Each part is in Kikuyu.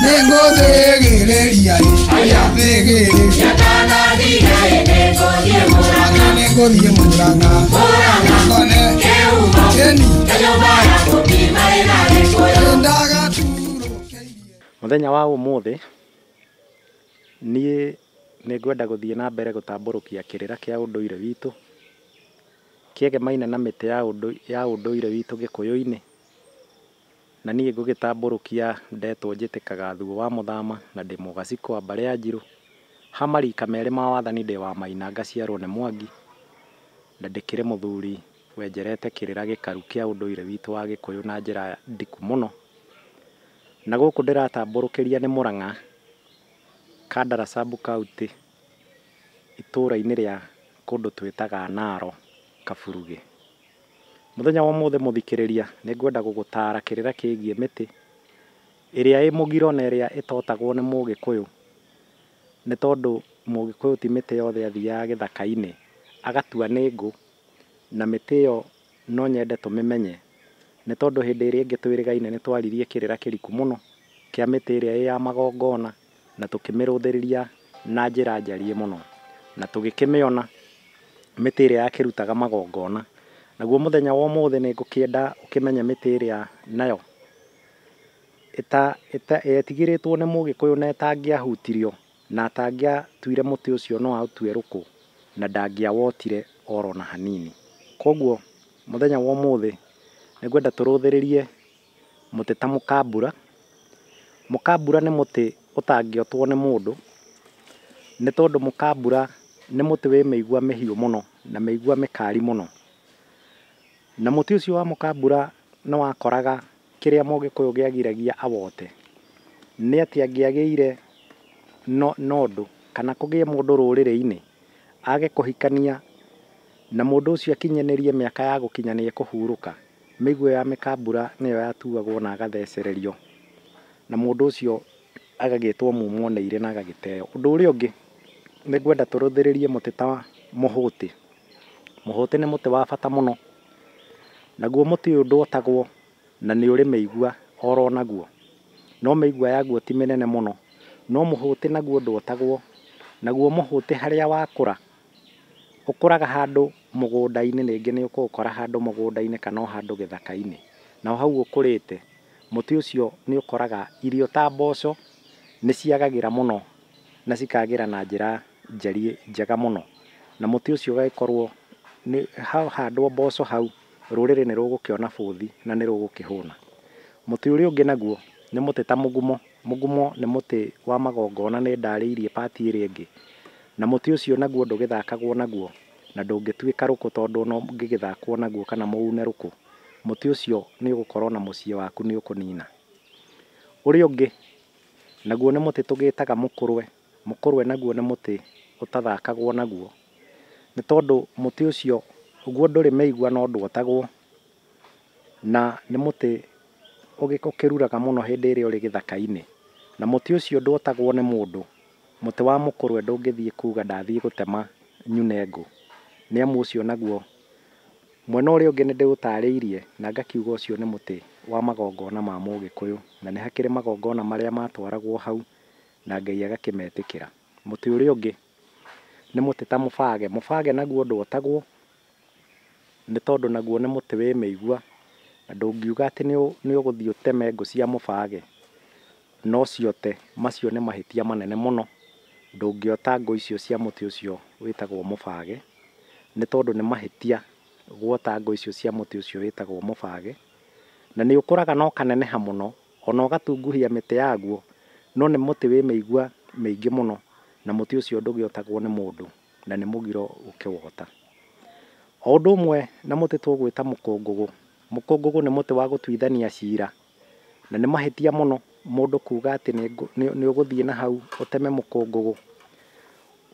nĩngũthĩgĩrĩria aya thĩgĩrĩria mwana nĩngũthiĩ mũranga kone keni ndagatũrũkĩirie Mũthenya wa ũmũthĩ niĩ nĩ ngwenda gũthiĩ na mbere gũtambũrũkia kĩrĩra kĩa ũndũire witũ kĩegemaine na mĩtĩ ya ũndũ- ya ũndũire witũ gĩkũyũ-inĩ. Na niĩ ngũgĩtambũrũkia ndetwo njĩtĩkaga thuo wa mũthama, na ndĩ mũgacikũ wa mbarĩ ya njirũ, ha marika merĩ ma wathani ndĩ wa maina ngaciarwo nĩ Mwangi, na ndĩkĩrĩ mũthuri wenjerete kĩrĩra gĩkaru kĩa ũndũire witũ wa Gĩkũyũ na njĩra ndiku mũno. Na gũkũ ndĩratambũrũkĩria nĩ Mũrang'a, Kandara sub county, itũra-inĩ rĩa kũndũ twĩtaga Naro Kaburuge. Mũthenya wa ũmũthĩ mũthikĩrĩria, nĩ ngwenda gũgũtaara kĩrĩra kĩgiĩ mĩtĩ ĩrĩa ĩ mũgiro na ĩrĩa ĩtotagwo nĩ Mũgĩkũyũ, nĩ tondũ Mũgĩkũyũ ti mĩtĩ yothe athiaga gĩthaka-inĩ agatua nĩ ngũ, na mĩtĩ ĩyo no nyende tũmĩmenye, nĩ tondũ hĩndĩ ĩrĩa ĩngĩ twĩrĩgaine nĩ twaririe kĩrĩra kĩriku mũno kĩa mĩtĩ ĩrĩa ĩ ya magongona. na tũkĩmĩrũthĩrĩria na njĩra njariĩ mũno, na tũgĩkĩmĩona mĩtĩ ĩrĩa yakĩrutaga magongona. Naguo mũthenya wa ũmũthĩ nĩ ngũkĩenda ũkĩmenye mĩtĩ ĩrĩa nayo yetigĩrĩtwo nĩ mũgĩkũyũ na ĩtangĩahutirio, na atangĩatuire mũtĩ ũcio no aũtue rũkũ, na ndangĩawotire oro na hanini. Koguo mũthenya wa ũmũthĩ nĩ ngwenda tũrũthĩrĩrie mũtĩ ta mũkambura. Mũkambura nĩ mũtĩ ũtangĩotwo nĩ mũndũ, nĩ tondũ mũkambura nĩ mũtĩ wĩ mĩigua mĩhiũ mũno na mĩigua mĩkari mũno. Na mũtĩ ũcio wa mũkambura nĩ wakoraga kĩrĩa mũgĩkũyũ gĩagiragia awote, nĩ atĩ angĩagĩire na ũndũ kana kũgĩe mũndũ rũrĩrĩ-inĩ age kũhikania na mũndũ ũcio akinyanĩrie mĩaka ya gũkinya nĩ ekũhurũka. Mĩguĩ ya mĩkambura nĩyo yatuagwo na agathecererio, na mũndũ ũcio agagĩtwo mumwoneire na agagĩteo. Ũndũ ũrĩa ũngĩ, nĩ ngwenda tũrũthĩrĩrie mũtĩ ta mũhũtĩ. Mũhũtĩ nĩ mũtĩ wa bata mũno, naguo mũtĩ ũyũ ndwotagwo na nĩ ũrĩ mĩigua oro naguo, no mĩigua yaguo ti mĩnene mũno. No mũhũtĩ naguo ndwotagwo, naguo mũhũtĩ harĩa wakũra, ũkũraga handũ mũgũnda-inĩ rĩngĩ nĩ ũkũũkora handũ mũgũnda-inĩ kana o handũ gĩthaka-inĩ. Na o hau ũkũrĩte, mũtĩ ũcio nĩ ũkoraga irio ta mboco nĩ ciagagĩra mũno na cikagĩra na njĩra njega mũno. Na mũtĩ ũcio ũgagĩkorwo hahandwo mboco hau rũrĩrĩ nĩ rũgũkĩona bũthi na nĩ rũgũkĩhũna. Mũtĩ ũrĩa ũngĩ naguo nĩ mũtĩ ta mũgumo. Mũgumo nĩ mũtĩ wa magongona nĩ ndaarĩirie part ĩrĩa ĩngĩ. Na mũtĩ ũcio naguo ndũgĩthakagwo naguo na ndũngĩtuĩka rũkũ tondũ ona ũngĩgĩthakwo naguo kana mũune rũkũ, mũtĩ ũcio nĩ ũgũkorwo na mũciĩ waku nĩ ũkũnina. Ũrĩa ũngĩ naguo nĩ mũtĩ tũgĩtaga mũkũrwe. Mũkũrwe naguo nĩ mũtĩ ũtathakagwo naguo nĩ tondũ mũtĩ ũcio ũguo ndũrĩ mĩigua no ndwotagwo. na nĩ mũtĩ ũkĩruraga mũno hĩndĩ ĩrĩa ũrĩ gĩthaka-inĩ. Na mũtĩ ũcio ndwotagwo nĩ mũndũ, mũtĩ wa mũkũrwe ndũngĩthiĩ kuuga ndathiĩ gũtema nyune ngũ, nĩ amu ũcio naguo, mwena ũrĩa ũngĩ nĩ ndĩũtaarĩirie na ngakiuga ũcio nĩ mũtĩ wa magongona ma Mũgĩkũyũ, na nĩ hakĩrĩ magongona marĩa matwaragwo hau na Ngai agakĩmetĩkĩra. Mũtĩ ũrĩa ũngĩ nĩ mũtĩ ta mũbage, mũbage naguo ndwotagwo, nĩ tondũ naguo nĩ mũtĩ wĩ mĩigua, na ndũngiuga atĩ nĩ ũgũthiĩ ũteme ngũ cia mũbage na ũciote, macio nĩ mahĩtia manene mũno, ndũngĩota ngũ icio cia mũtĩ ũcio wĩtagwo mũbage, nĩ tondũ nĩ mahĩtia gwota ngũ icio cia mũtĩ ũcio wĩtagwo mũbage, na nĩ ũkũraga na ũkaneneha mũno, ona ũgatunguhia mĩtĩ yaguo, no nĩ mũtĩ wĩ mĩigua mĩingĩ mũno, na mũtĩ ũcio ndũgĩotagwo nĩ mũndũ. na nĩ mũgiro gũkĩwota. O ũndũ ũmwe na mũtĩ tũgwĩta mũkũngũgũ, mũkũngũgũ nĩ mũtĩ wa gũtuithania cira, na nĩ mahĩtia mũno mũndũ kuuga atĩ nĩ ũgũthiĩ na hau ũteme mũkũngũgũ,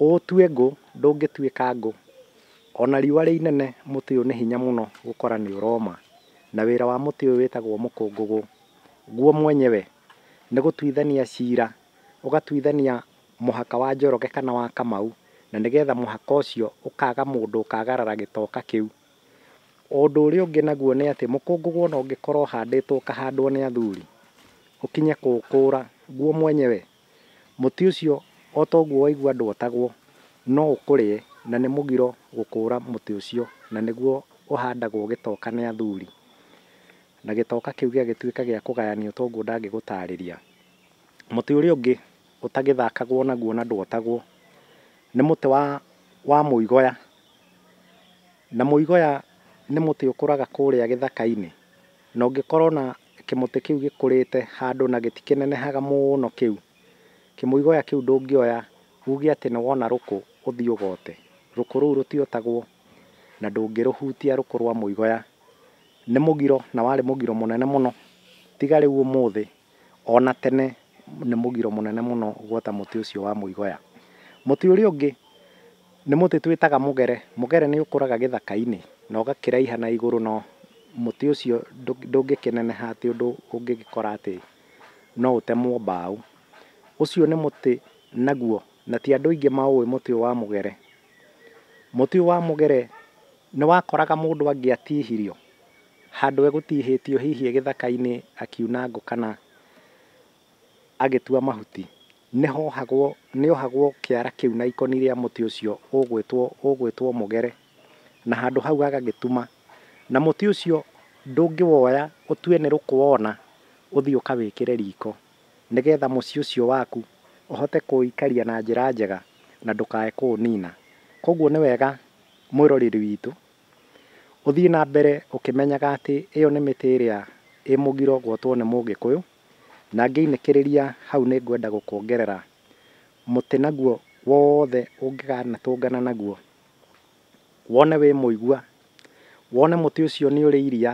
ũũtue ngũ, ndũngĩtuĩka ngũ. O na riũa rĩ inene mũtĩ ũyũ nĩ hinya mũno gũkora nĩ ũroma. Na wĩra wa mũtĩ ũyũ wĩtagwo mũkũngũgũ guo mwenyewe nĩ gũtuithania cira, ũgatuithania mũhaka wa Njoroge kana wa Kamau, na nĩgetha mũhaka ũcio ũkaga mũndũ ũkagarara gĩtoka kĩu. Ũndũ ũrĩa ũngĩ naguo nĩ atĩ mũkũngũgũ ona ũngĩkorwo ũhandĩtwo ũkahandwo nĩ athuri, ũkinye kũũkũra guo mwenyewe, mũtĩ ũcio o ta ũguo waigua ndwatagwo, no ũkũrĩe na nĩ mũgiro gũkũra mũtĩ ũcio, na nĩguo ũhandagwo gĩtoka nĩ athuri, na gĩtoka kĩu gĩgagĩtuĩka gĩa kũgayanio ta ũguo ndangĩgũtarĩria. Mũtĩ ũrĩa ũngĩ... ũtagĩthakagwo naguo na ndwotagwo, nĩ mũtĩ wa wa mũigoya, na mũigoya nĩ mũtĩ ũkũraga kũrĩa gĩthaka-inĩ, na ũngĩkora ona kĩmũtĩ kĩu gĩkũrĩte handũ na gĩtikĩnenehaga mũno kĩu, kĩmũigoya kĩu ndũngĩoya uge atĩ nĩ wona rũkũ ũthiĩ ũgote, rũkũ rũu rũtiotagwo, na ndũngĩrũhutia rũkũ rwa mũigoya, nĩ mũgiro na warĩ mũgiro mũnene mũno, tiga rĩu ũmũthĩ o na tene nĩ mũgiro mũnene mũno gwota mũtĩ ũcio wa mũigoya. Mũtĩ ũrĩa ũngĩ nĩ mũtĩ twĩtaga mũgere. Mũgere nĩ ũkũraga gĩthaka-inĩ na ũgakĩraiha na igũrũ na mũtĩ ũcio ndũngĩkĩneneha atĩ ũndũ ũngĩgĩkora atĩ no ũtemwo mbaũ. Ũcio nĩ mũtĩ naguo na ti andũ aingĩ maũĩ mũtĩ ũyũ wa mũgere. Mũtĩ ũyũ wa mũgere nĩ wakoraga mũndũ angĩatihirio handũ egũtihĩtio hihi egĩthaka-inĩ akiuna ngũ kana agĩtua mahuti, nĩhohagwo, nĩohagwo kĩara kĩu na ikoni rĩa mũtĩ ũcio ũgwĩtwo, ũgwĩtwo mũgere, na handũ hau agagĩtuma, na mũtĩ ũcio ndũngĩwoya ũtue nĩ rũkũwona ũthiĩ ũkawĩkĩre riko, nĩgetha mũciĩ ũcio waku ũhote kũũikaria na njĩra njega na ndũkae kũũnina. Koguo nĩ wega mwĩroreri witũ Ũthiĩ na mbere ũkĩmenyaga atĩ ĩyo nĩ mĩtĩ ĩrĩa ĩ mũgiro gwotwo nĩ Mũgĩkũyũ, na ngĩinĩkĩrĩria hau nĩ ngwenda gũkuongerera mũtĩ naguo wothe ũngĩkanatũngana naguo, wone wĩ mũigua, wone mũtĩ ũcio nĩ ũrĩ iria,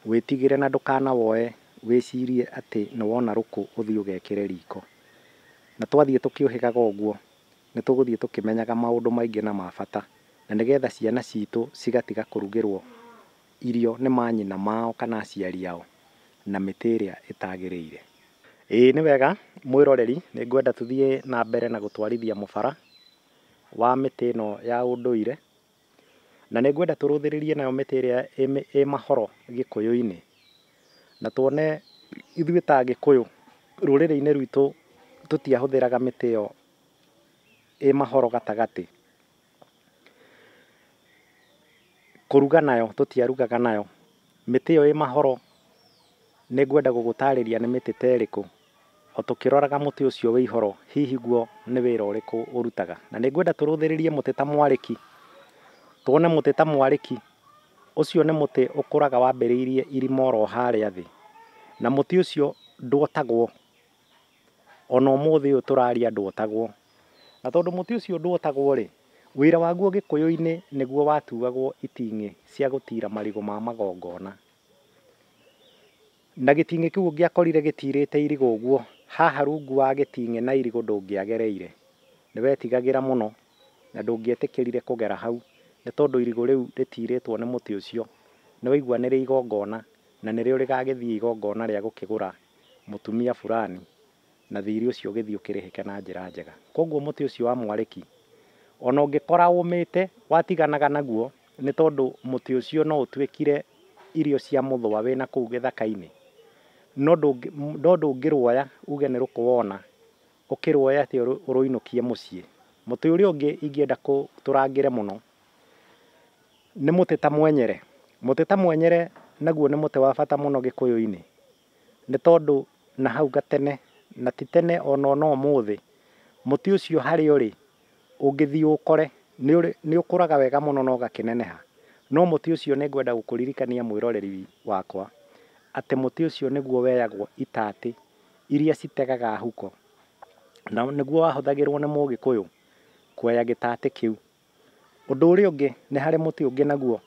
wĩtigĩre na ndũkanawoe wĩcirie atĩ nĩ wona rũkũ ũthiĩ ũgekĩre riko. Na twathiĩ tũkĩũhĩgaga ũguo, nĩ tũgũthiĩ tũkĩmenyaga maũndũ maingĩ na ma bata, na nĩgetha ciana citũ cigatiga kũrugĩrũo irio nĩ manyina mao kana aciari ao na mĩtĩ ĩrĩa ĩtagĩrĩire. Ĩĩ nĩ wega mwĩroreri, nĩ ngwenda tũthiĩ na mbere na gũtwarithia mũbara wa mĩtĩ ĩno ya ũndũire, na nĩ ngwenda tũrũthĩrĩrie nayo mĩtĩ ĩrĩa ĩ mahoro Gĩkũyũ-inĩ, na tuone ithuĩ ta Agĩkũyũ rũrĩrĩ-inĩ rwitũ tũtiahũthĩraga mĩtĩ ĩyo ĩ mahoro gatagatĩ, kũruga nayo tũtiarugaga nayo, mĩtĩ ĩyo ĩ mahoro nĩ ngwenda gũgũtarĩria nĩ mĩtĩ ta ĩrĩkũ, o tũkĩroraga mũtĩ ũcio wĩ ihoro hihi guo nĩ wĩra ũrĩkũ ũrutaga. Na nĩ ngwenda tũrũthĩrĩrie mũtĩ ta mwarĩki, tuone mũtĩ ta mwarĩki, ũcio nĩ mũtĩ ũkũraga wambĩrĩirie irima oro harĩa thĩ, na mũtĩ ũcio ndwotagwo. ona ũmũthĩ ũyũ tũraria ndwotagwo. Na tondũ mũtĩ ũcio ndwotagwo-rĩ, wĩra waguo Gĩkũyũ-inĩ nĩguo watuagwo iting'ĩ cia gũtiira marigũ ma magongona. Na gĩting'ĩ kĩu ũngĩakorire gĩtiirĩte irigũ ũguo, haha rungu wa gĩting'ĩ na irigũ ndũngĩagereire. Nĩwetigagĩra mũno na ndũngĩetĩkĩrire kũgera hau nĩ tondũ irigũ rĩu rĩtiirĩtwo nĩ mũtĩ ũcio nĩwaigua nĩrĩa igongona na nĩrĩo rĩgagĩthiĩ igongona rĩa gũkĩgũra mũtumia fulani, na thiirĩ ũcio ũgĩthiĩ ũkĩrĩhĩke na njĩra njega. Kwoguo mũtĩ ũcio wa mwarĩki, o na ũngĩkora ũũmĩte, watiganaga naguo, nĩ tondũ mũtĩ ũcio no ũtuĩkire irio cia mũthũa wĩ na kũu gĩthaka-inĩ, no no ndũngĩrũoya uuge nĩ rũkũ wona, ũkĩrũoya atĩ ũrũinũkie mũciĩ. Mũtĩ ũrĩa ũngĩ ingĩenda tũrangĩre mũno, Nĩ mũtĩ ta mwenyere. Mũtĩ ta mwenyere naguo nĩ mũtĩ wa bata mũno gĩkũyũ-inĩ, nĩ tondũ na hau gatene na ti tene ona ũmũthĩ, mũtĩ ũcio harĩa ũrĩ ũngĩthiĩ ũũkore nĩ ũkũraga wega mũno na ũgakĩneneha. No mũtĩ ũcio nĩ ngwenda gũkũririkania mwĩroreri wakwa, atĩ mũtĩ ũcio nĩguo weyagwo itatĩ iria citegaga huko, na nĩguo wahũthagĩrwo nĩ mũgĩkũyũ kwoya gĩtatĩ kĩu. Ũndũ ũrĩa ũngĩ nĩ harĩ mũtĩ ũngĩ naguo,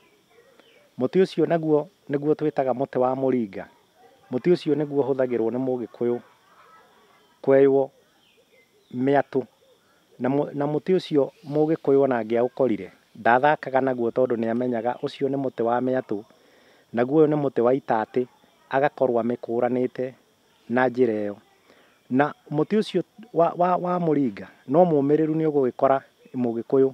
mũtĩ ũcio naguo nĩguo twĩtaga mũtĩ wa mũringa. Mũtĩ ũcio nĩguo ũhũthagĩrwo nĩ mũgĩkũyũ kweywo mĩatũ. Na mũtĩ ũcio mũgĩkũyũ ona angĩaũkorire ndathakaga naguo tondũ nĩ amenyaga ũcio nĩ mũtĩ wa mĩatũ, naguo ũyũ nĩ mũtĩ wa itatĩ agakorwo amĩkũranĩte. na njĩra ĩyo. Na mũtĩ ũcio wa, wa, wa mũringa no mũmĩrĩru nĩ ũgũgĩkora mũgĩkũyũ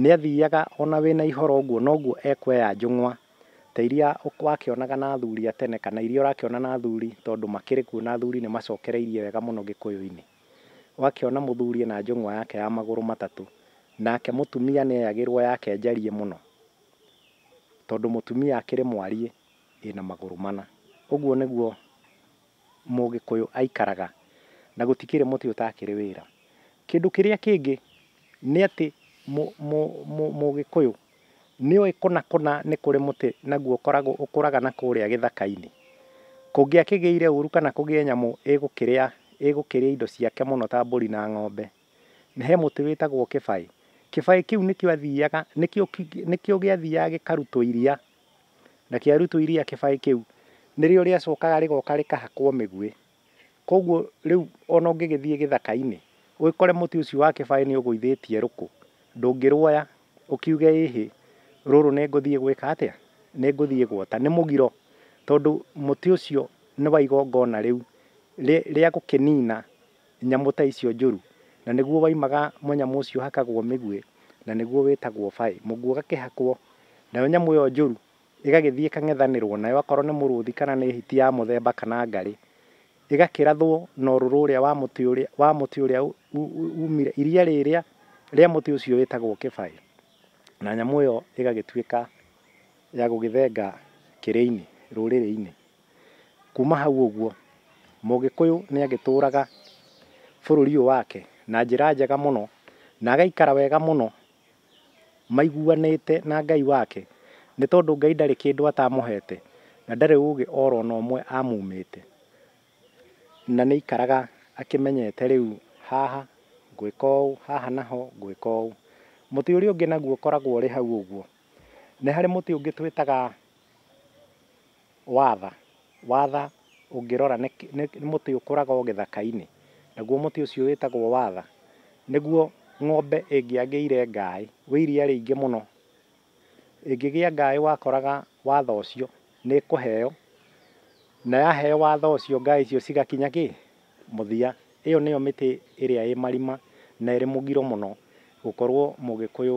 nĩ athiaga ona wĩna ihoro ũguo noguo ekweya njũng'wa ta iria wakĩonaga na athuri a tene kana iria ũrakĩona na athuri tondũ makĩrĩ kuo na athuri nĩ macokereirie wega mũno gĩkũyũ-inĩ. Ũgakĩona mũthuri ena njũng'wa yake ya magũrũ matatũ, nake mũtumia nĩ eyagĩrwo yake njarie mũno tondũ mũtumia akĩrĩ mwariĩ. ĩna magũrũ mana. Ũguo nĩguo mũgĩkũyũ aikaraga na gũtikĩrĩ mũtĩ ũtakĩrĩ wĩra. Kĩndũ kĩrĩa kĩngĩ nĩ atĩ mũgĩkũyũ nĩ oĩ kũnakũna nĩ kũrĩ mũtĩ naguo ũkoragwo ũkũraga na kũrĩa gĩthaka-inĩ. Kũngĩakĩgĩire ũru kana kũgĩe nyamũ ĩgũkĩrĩa ĩgũkĩrĩa indo ciake mũno ta mbũri na ng'ombe, he mũtĩ wĩtagwo kĩbaĩ. Kĩbaĩ kĩu nĩkĩo athiaga nĩkĩo nĩkĩo gĩathiaga gĩkarutwo iria. Na kĩa rutu iria kĩbaĩ kĩu nĩrĩo rĩacokaga rĩgoka rĩkahakwo mĩguĩ. Kwoguo rĩu o na ũngĩgĩthiĩ gĩthaka-inĩ ũgĩkore mũtĩ ũcio wa kĩbaĩ nĩ ũgũithĩtie rũkũ, ndũngĩruoya ũkiuge ĩ hĩ, rũrũ nĩ ngũthiĩ gwĩka atĩa? Nĩ ngũthiĩ gwota. Nĩ mũgiro tondũ mũtĩ ũcio nĩ wa igongona rĩu rĩa gũkĩnina. nyamũ ta icio njũru, na nĩguo waimaga mũnyamũ ũcio ũhakagwo mĩguĩ, na nĩguo wĩtagwo baĩ, mũguĩ ũgakĩhakwo, nayo nyamũ ĩyo njũru ĩgagĩthiĩ ĩkang'ethanĩrwo nayo akorwo nĩ mũrũthi kana nĩ hiti ya mũthemba kana ngarĩ, ĩgakĩrathwo na ũrũrũ ũrĩa wa mũtĩ ũrĩa wa mũtĩ ũrĩa umire iria rĩrĩa rĩa mũtĩ ũcio wĩtagwo kĩbaĩ, na nyamũ ĩyo ĩgagĩtuĩka ya gũgĩthenga kĩrĩinĩ, rũrĩrĩinĩ. Kuma hau ũguo, Mũgĩkũyũ nĩ agĩtũraga bũrũri ũyũ wake na njĩra njega mũno, na agaikara wega mũno maiguanĩte na Ngai wake, nĩ tondũ Ngai ndarĩ kĩndũ atamũhete, na ndarĩ ũgĩ oro ona ũmwe amumĩte. Na nĩ aikaraga akĩmenyete rĩu haha ngwĩka ũũ, haha naho ngwĩka ũũ. Mũtĩ ũrĩa ũngĩ naguo ũkoragwo ũrĩ hau ũguo, nĩ harĩ mũtĩ ũngĩ twĩtaga... Watha, watha, ũngĩrora nĩ, nĩ mũtĩ ũkũraga o gĩthaka-inĩ, naguo mũtĩ ũcio wĩtagwo watha, nĩguo ng'ombe ĩngĩagĩire ngaaĩ, wĩ iria rĩingĩ mũno, ĩngĩgĩa ngaaĩ wakoraga watha ũcio, nĩ ĩkũheo, na yaheo watha ũcio ngaaĩ icio cigakinya kĩ? mũthia. Ĩyo nĩyo mĩtĩ ĩrĩa ĩ marima na ĩrĩ mũgiro mũno gũkorwo Mũgĩkũyũ